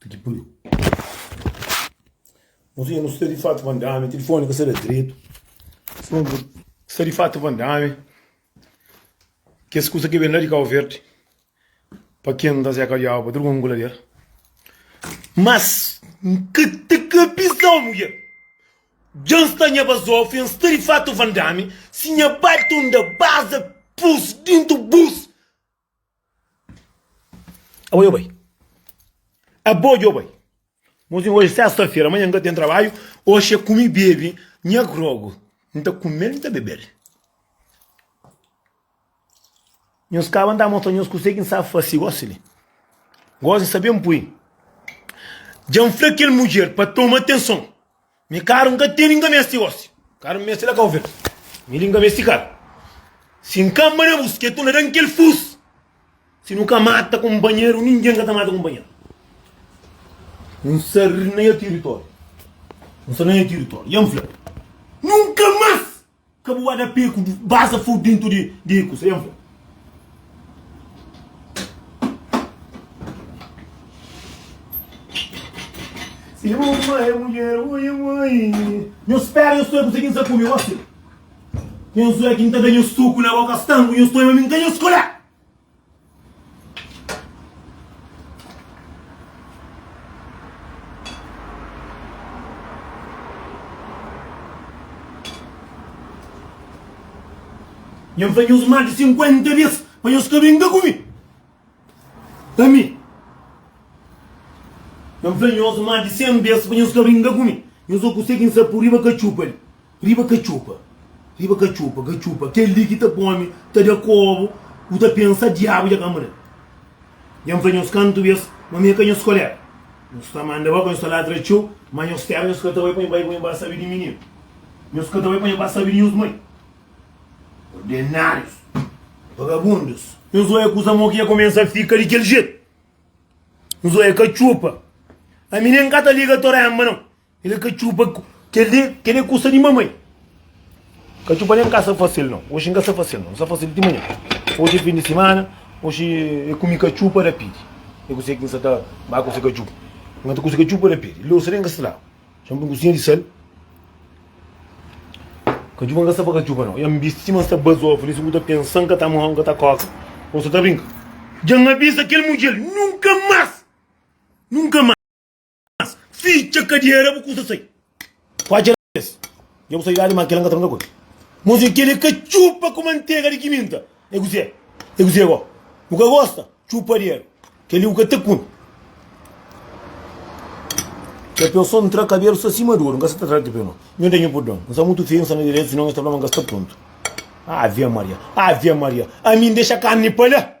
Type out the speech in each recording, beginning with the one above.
Ti ki pariu. Nos ia nos ta di fatu van dame, telefone ka sa da dretu. Sa di fatu van dame. Kes kusa ke ben la di Kau Verdi, pa ken ta zeka diabu, pa tudu ken ku ladera. Mas, N ka ta kabisa un mudjer. Dja N sta nha bazofi, N sta di fatu van dame, si nha bai ta unda baza pus dintu bus. Abo yo bai. Abo yo bai. Mozinho, hoje sexta-feira, amanhã nunca tem trabalho, hoje é comi bebe nha grogo, não tá comer, não tá beber. Nhos caba não tá mostrar nhos cusé que não sabe faci, gosi li, gosi sabem pui, djan fla kel mulher pa toma atenção, Mi karu nka teni nka mesti osi karu mi mesti la kau verde mi li nka mesti karu si nka ma na bus ke tu na dan kel fus si nu ka mata kunpanheru ningen ka ta mata kunpanheru nsa ri na nha tiritoriu nsa na nha tiritoriu ya nfla nunka mas Ka bu ba da pé ku baza fogu dentu di kusa. Yen fla. Si bu ma e mudjer, ui, ui. Nho spera nho stoi ku se kin sa kume gosi. Nho zui a kin ta da nho suku na boka stanku nho stoi ma mi nka nho skolha. Nha fla nhos más di 50 bes pa nhos ka ben ka ku mi. Ami. Nha fla nhos más di 100 bes pa nhos ka ben ka ku mi. Nhos oku se ki N sta purriba ka txupa li. Riba katxupa, riba katxupa, katxupa Kel li ki ta pô-mi ta da kóbu Ku ta pensa diabu dja ka mudá Dja N fla nhos kantu bês ma mi é ka nhos koléga Nhos ta manda ba-ba, nhos ta ladra txeu Má nhos tera nhos ka ta bai pa nha bai Ku nha ba sabe di mininu Nhos ka ta bai pa nha ba sabe di nhos mai Ordenárius, vagabundus Nhos oia kuza mau ki dja kumesa fika di kel jetu Nhos oia katxupa Ami nen ka ta liga Toremba nau El ka txupa kel-li, kel-li é kusa di mamai. Ka txupa nen ka sa fase-l nau. Oxi N ka sa fase-l nau, N sa fase-l ti manhan. Oxi é fin di simana, oxi é ku mi ka txupa rapidi. É kuzê ki N sa ta ba kuze ka txupa. N ka ta kuze ka txupa rapidi. Lósa nen ka sa ta laba. Sô un kusinha di sal. Ka txupa N ka sa pa ka txupa nau. Ya N bisti sima N sta ba zofa li, si bu ta pensa N ka ta mau, N ka ta koka ô N sta ta brinka. Dja N abiza kel mudjer, nunka más, nunka más. mas ficha kadiera bu kusa sai kuacha na kabesa dja bu sai dali ma kel la nka ta nunka koi muzi kel e ka txupa ku mantega di kiminta e kuzê e kuzê bo bu ka gosta txupa di el kel li bu ka ta kume kel peo so ntra kabelu sta sima duru nka sa ta tra kel peo no nho ta nho pudon nsa mutu feyu nsa na diretu sinon es ta fla ma nka sta prontu ave maria ave maria ami ndexa karni pa la.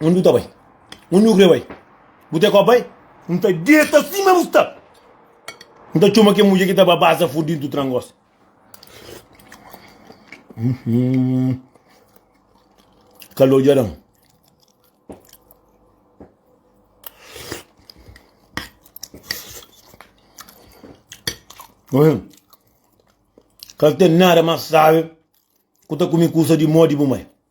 Onde bu tá bai? Onde nu crê bai? Bu tê kó bai? N ta deta si mê bu sta. N ta txoma ke mudje ki ta ba baza fo dintu trangos. Uhum. Calor djaran. Uhum. Cal tem nada mas sabe. Kuta kumi kusa di modi bu mai.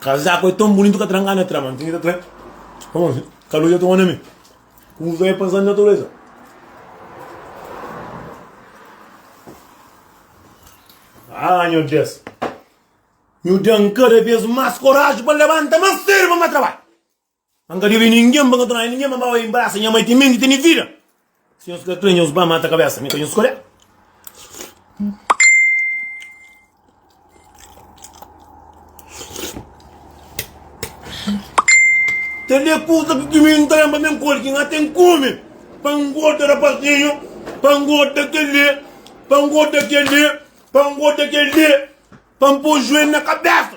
Kazaku é tão bonito ka tra ngana tra mano tinha ki ta tra como assim calor dja toma na mi usa é pensando na natureza ah nho Deus nho dan cada vez mais coragem para levanta mas firme mas trabalho N ka debe ningen, pa N ka torna nen ningen, ma N ba bai inbrasa nha mai timenti tene vida. Si nhos ka kre, nhos ba mata kabesa mi, ka nhos skolé. Tene kusa ki ki mi N ta lenbra ben koli ki N ka ten kume, pa N gorda rapazinhu, pa N gorda kele, pa N gorda kele, pa N gorda kele, pa N po juelhu na kabesa.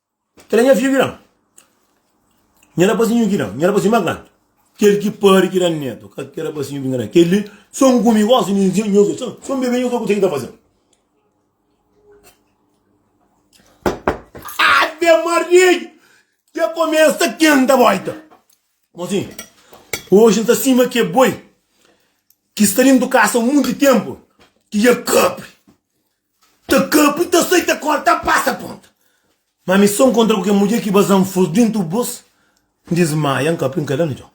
Kila nha fidju ki dan. Nha rapazinhu ki dan. Nha rapazinhu más grandi. Kel ki pari ki dan netu. Ka kel rapazinhu bin ka dan. Kel-li so N kume gósi, mi i nhos dôs. So N bebe, nhos dôs konsigi ta faze-l. Ave Maria! Dja kumesa kenta bóita. Mon sinhu, oji N sta sima ki boi ki sta dentu kasa monti ténpu, ki dja kapri. Ta kapu ta sai ta kor ta pasa ponta ma mi son kontra ku kel mudjer ki bazan fus dintu bus n dismaia n kapu n kada na txon.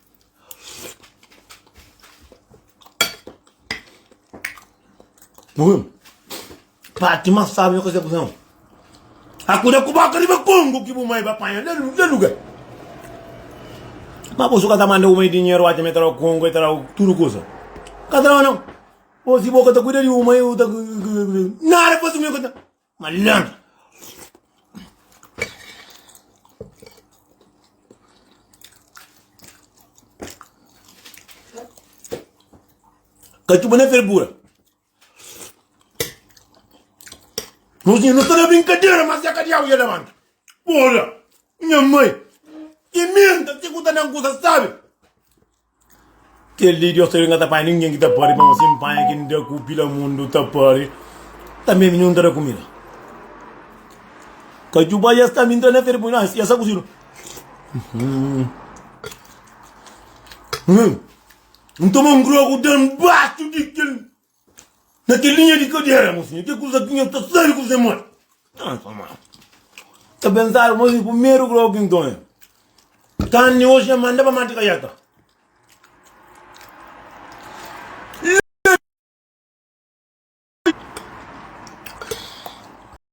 Uum parti mas sabi na kuzé kuzé un akuda ku boka riba kongu ki bu mai ba panha na na lugar ma bu su ka ta manda bu mai dinheru oca ma e traba kongu e traba tudu kuza ka traba nau. Osi bo ka ta kuida di uma eu ta nada fazi meu kata malandro. Kachuba na fervura. Nós não está na brincadeira, mas é que diabo ia levanta. Porra, minha mãe, que menta, que custa na coisa, sabe? Kel di Diós ta ben, ka ta panha ningen ki ta pâde, ma N sen panha ki N da ku pila mundu ta pâde, tanbê mi nun ta da kumida. Ka djuba es ta minta na férias, pui na es ta kuzidu. N toma un grogu den baxu di kel Na kel linha di kadera, mosinhu, ke kuza ki nha ta sabe kuze mô? Nhos ta manda. Ta pensaba, mosinhu, primeru grogu ki N tonha, kanni oxi nha manda pa mati kaiata.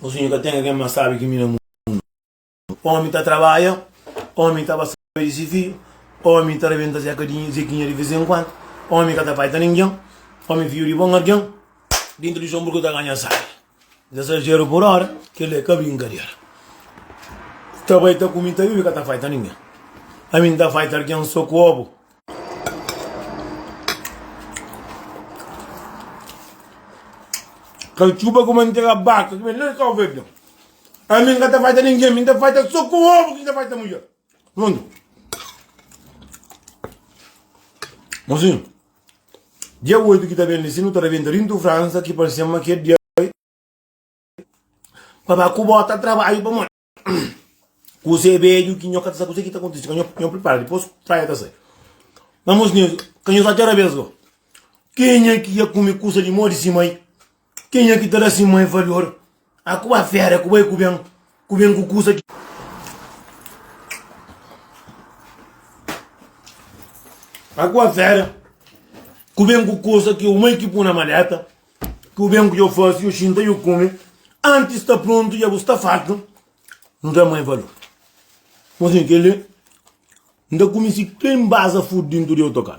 O sonho que eu tenho é que minha sabe que mina mundo. Homem tá trabalha, homem tá passando esse filho, homem tá reventando essa cadinha, zequinha de vez em quando, homem que tá pai tá ninguém, homem filho de bom alguém, dentro de sombra que tá ganhando sabe. Ezajeru por ora, kel-li é ka brinkadeira. Ta bai ta kume, ta bebe, ka ta faita ningen. Ami N ta faita algen so ku obu. Katxuba ku mantega baka ki ben la di Kau Verdion. Ami N ka ta faita ningen, mi N ta faita so ku obu ki N ta faita mudjer. Prontu. Mosinhu. Dia 8 ki ta ben li, si nu ta ta ben ta Rintu Fransa, ki parse-m ma ki é dia pa ba ku bo ta trabadju pamodi kuzê bedju ki nho ka ta sa kuzê ki ta kontise ka nho nho pripara dipôs praia ta sai na mos nizio ka nho sa txera bes go kenha ki ia kume kusa di modi si mai. Kenha ki ta da si mai valor? A ku ba fera, ku bai ku ben, ku ben ku kusa ki. A ku ba fera, ku ben ku kusa ki yo mai ki pu na maleta, ku ben ku yo fasi, yo xinta, yo kume, antis sta prontu ya bu sta fartu, N da mai valor. Mo sin kele, N ta kume si klen baza fut dintu di otokan.